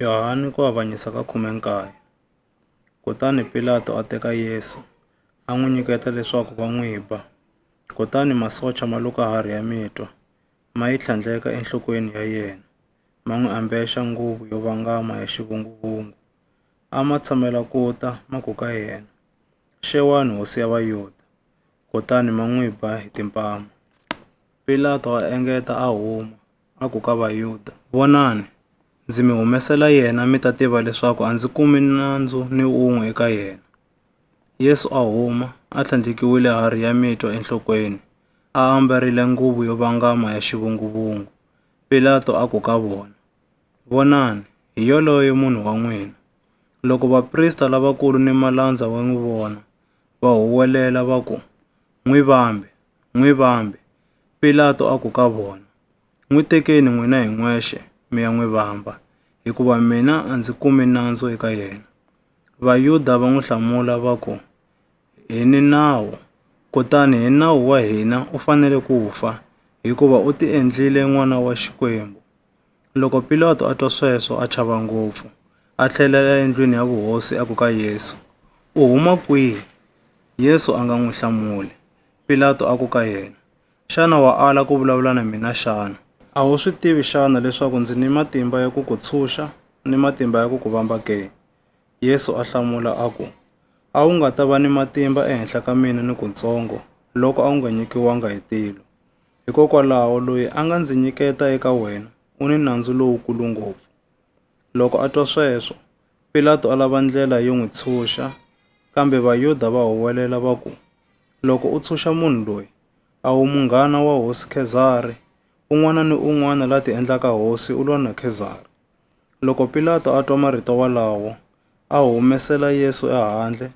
Yohane ku avanyisa ka khume nkaye. Kutani Pilato a teka Yesu, a n'wi nyiketa leswaku va n'wi ba. Kutani masocha ma luka harhi ya mitwa, ma yi tlhandleka enhlokweni ya yena, ma n'wi ambexa nguvu yo vangama ya xivunguvungu. A ma tshamela ku ta ma ku ka yena, Xewani hosi ya Vayuda! Kutani ma n'wi ba hi timpama. Pilato a engeta a huma, a ku ka Vayuda, Vonani, ndzi mi humesela yena mi ta tiva leswaku a ndzi kumi nandzu ni un'we eka yena. Yesu a huma, a tlhandlekiwile harhi ya mitwa enhlokweni, a ambarile nguvu yo vangama ya xivunguvungu. Pilato a ku ka vona, Vonani, hi yoloye munhu wa n'wina. Loko vaprista lavakulu ni malandza va n'wi vona, va huwelela va ku, N'wi vambe! N'wi vambe! Pilato a ku ka vona, N'wi tekeni n'wina hi n'wexe mi ya n'wi vamba, hikuva mina a ndzi kumi nandzu eka yena. Vayuda va n'wi hlamula va ku, Hi ni nawu, kutani hi nawu wa hina u fanele ku fa, hikuva u ti endlile n'wana wa Xikwembu. Loko Pilato a twa sweswo a chava ngopfu, a tlhelela endlwini ya vuhosi a ku ka Yesu, U huma kwihi? Yesu a nga n'wi hlamuli. Pilato a ku ka yena, Xana wa ala ku vulavula na mina xana? A wu swi tivi xana leswaku ndzi ni matimba ya ku ku tshunxa ni matimba ya ku ku vamba ke? Yesu a hlamula a ku, A wu nga ta va ni matimba ehenhla ka mina ni kutsongo loko a wu nga nyikiwanga hi tilo. Hikokwalaho loyi a nga ndzi nyiketa eka wena u ni nandzu lowukulu ngopfu. Loko a twa sweswo, Pilato a lava ndlela yo n'wi tshunxa, kambe Vayuda va huwelela va ku, Loko u tshunxa munhu loyi, a wu munghana wa hosi Khezari, un'wana ni un'wana la tiendlaka hosi u lwa na Khezari. Loko Pilato a twa marito walawo, a humesela Yesu ehandle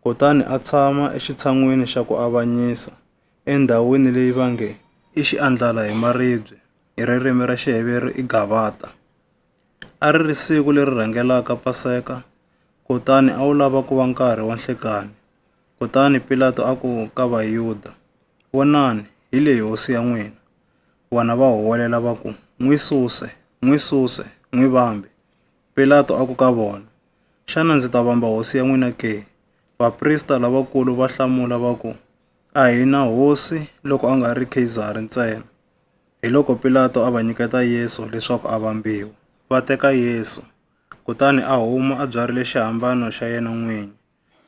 kutani a tshama exitshan'wini xa ku avanyisa, endhawini leyi va nge i Xiandlala hi Maribye, hi ririmi ra Xiheveru i Gavata. A ri ri siku leri rhangelaka Paseka, kutani a wu lava ku va nkarhi wa nhlekani. Kutani Pilato a ku ka Vayuda, Vonani, hi leyi hosi ya n'wina! Vona va huwelela va ku, N'wi suse! N'wi suse! N'wi vambe! Pilato a ku ka vona, Xana ndzi ta vamba hosi ya n'wina ke? Vaprista lavakulu va hlamula va ku, A hi na hosi loko a nga ri Kheyizari ntsena. Hiloko Pilato a va nyiketa Yesu leswaku a vambiwa, va teka Yesu, kutani a huma a byarhile xihambano xa yena n'winyi,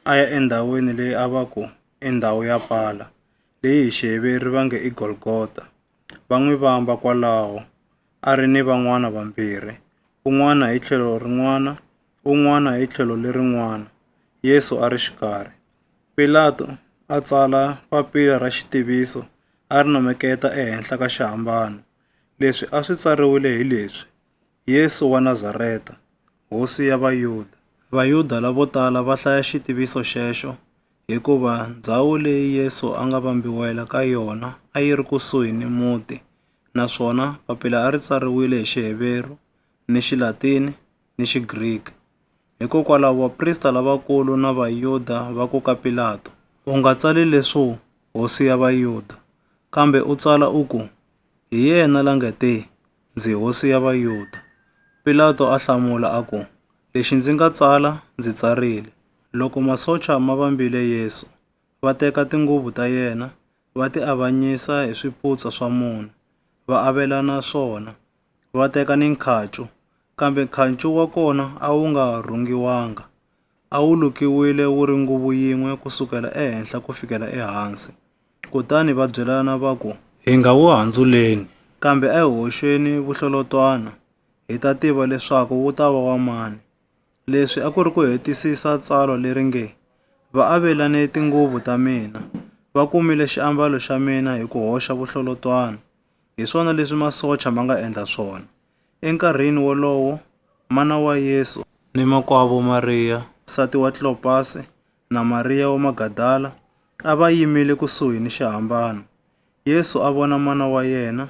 a ya endhawini leyi a va ku i ndhawu ya pala, leyi hi Xiheveru va nge i Golgota, va n'wi vamba kwalaho, a ri ni van'wana vambirhi, un'wana hi tlhelo rin'wana, un'wana hi tlhelo lerin'wana, Yesu a ri xikarhi. Pilato a tsala papila ra xitiviso a ri numeketa ehenhla ka xihambano. Leswi a swi tsariwile hi leswi, Yesu wa Nazareta, Hosi ya Vayuda. Vayuda lavo tala va hlaya xitiviso xexo hikuva ndzhawu leyi Yesu a nga vambiwela ka yona a yi ri kusuhi ni muti naswona papila a ri tsariwile hi Xiheveru, ni Xilatini ni Xigriki. Hikokwalaho, vaprista lavakulu na Vayuda va ku ka Pilato, U nga tsali leswo, Hosi ya Vayuda, kambe u tsala u ku, Hi yena la nga te, Ndzi Hosi ya Vayuda. Pilato a hlamula a ku, Lexi ndzi nga tsala, ndzi tsarile. Loko masocha ma vambile Yesu, va teka tinguvu ta yena, va ti avanyisa hi swiputsa swa mune, va avelana swona. va teka ni nkhacu, kambe nkhacu wa kona a wu nga rhungiwanga. A wu lukiwile wu ri nguvu yin'we ku sukela ehenhla ku fikela ehansi. Kutani va byelana va ku, Hi nga wu handzuleni, kambe a hi hoxeni vuhlolotwana, hi ta tiva leswaku wu ta va wa mani. Leswi a ku ri ku hetisisa tsalwa leri nge, Va avelane tinguvu ta mina, va kumile xiambalo xa mina hi ku hoxa vuhlolotwana. Hi swona leswi masocha ma nga endla swona. Enkarhini wolowo, mana wa Yesu ni makwavo Mariya nsati wa Klopasi na Mariya wa Magadala a va yimile kusuhi ni xihambano. Yesu a vona mana wa yena,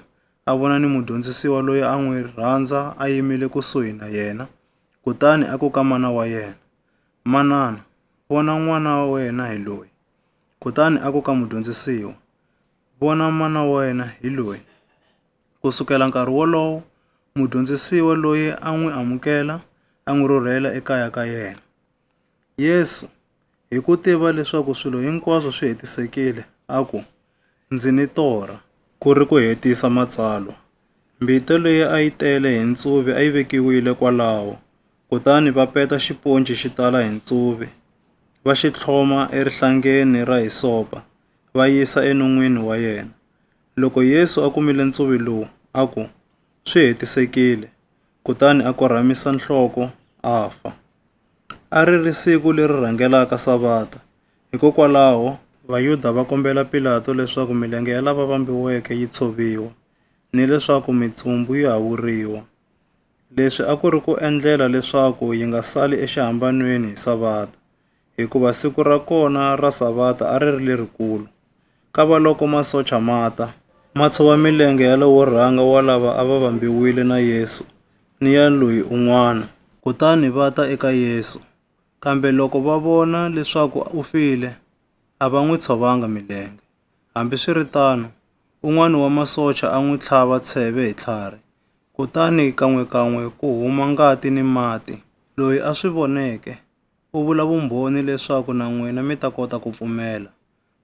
a vona ni mudyondzisiwa loyi a n'wi rhandza a yimile kusuhi na yena. Kutani a ku ka mana wa yena, Manana, vona n'wana wa wena hi loyi. Kutani a ku ka mudyondzisiwa, Vona mana wa wena hi loyi. Ku sukela nkarhi wolowo, mudyondzisiwa loyi a n'wi amukela a n'wi rhurhela ekaya ka yena. Yesu, hi ku tiva leswaku swilo hinkwaswo swi hetisekile, a ku, Ndzi ni torha. Ku ri ku hetisa matsalwa, mbita leyi a yi tele hi ntsuvi a yi vekiwile kwalaho, kutani va peta xiponci xi tala hi ntsuvi, va xi tlhloma erihlangeni ra hisopa. va yisa enon'wini wa yena. Loko Yesu a kumile ntsuvi lowu, a ku, Swi hetisekile, kutani a korhamisa nhloko a fa. A ri ri siku leri rhangelaka Savata, hikokwalaho Vayuda va kombela Pilato leswaku milenge ya lava vambiweke yi tshoviwa ni leswaku mitsumbu yi hawuriwa. Leswi a ku ri ku endlela leswaku yi nga sali exihambanweni hi Savata. hikuva siku ra kona ra Savata a ri ri lerikulu. Kavaloko masocha ma ta, ma tshova milenge ya lowo rhanga wa lava a va vambiwile na Yesu ni ya loyi un'wana, kutani va ta eka Yesu. Kambe loko va vona leswaku u file, a va n'wi tshovanga milenge. Hambiswiritano, un'wana wa masocha a n'wi tlhava tsheve hi tlhari, kutani kan'we-kan'we ku huma ngati ni mati. Loyi a swi voneke u vula vumbhoni leswaku na n'wina mi ta kota ku pfumela.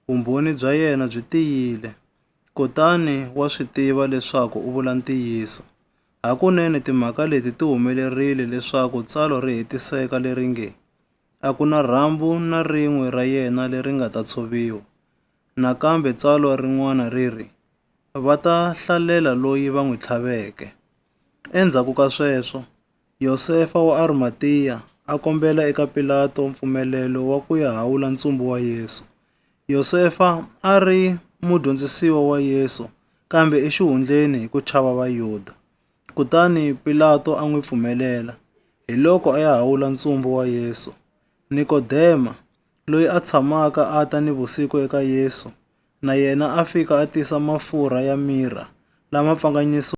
Vumbhoni bya yena byi tiyile, kutani wa swi tiva leswaku u vula ntiyiso. Hakunene timhaka leti ti humelerile leswaku tsalwa ri hetiseka leri nge, A ku na rhambu na rin'we ra yena leri nga ta tshoviwa. Nakambe tsalwa rin'wana ri ri, Va ta hlalela loyi va n'wi tlhaveke. Endzhaku ka sweswo, Yosefa wa Arimatiya a kombela eka Pilato mpfumelelo wa ku ya hawula ntsumbu wa Yesu. Yosefa a ri mudyondzisiwa wa Yesu kambe exihundleni hi ku chava Vayuda. Kutani Pilato a n'wi pfumelela, hiloko a ya hawula ntsumbu wa Yesu. Nikodema, loyi a tshamaka a ta ni vusiku eka Yesu, na yena a fika a tisa mafurha ya mirha lama pfanganyisiweke.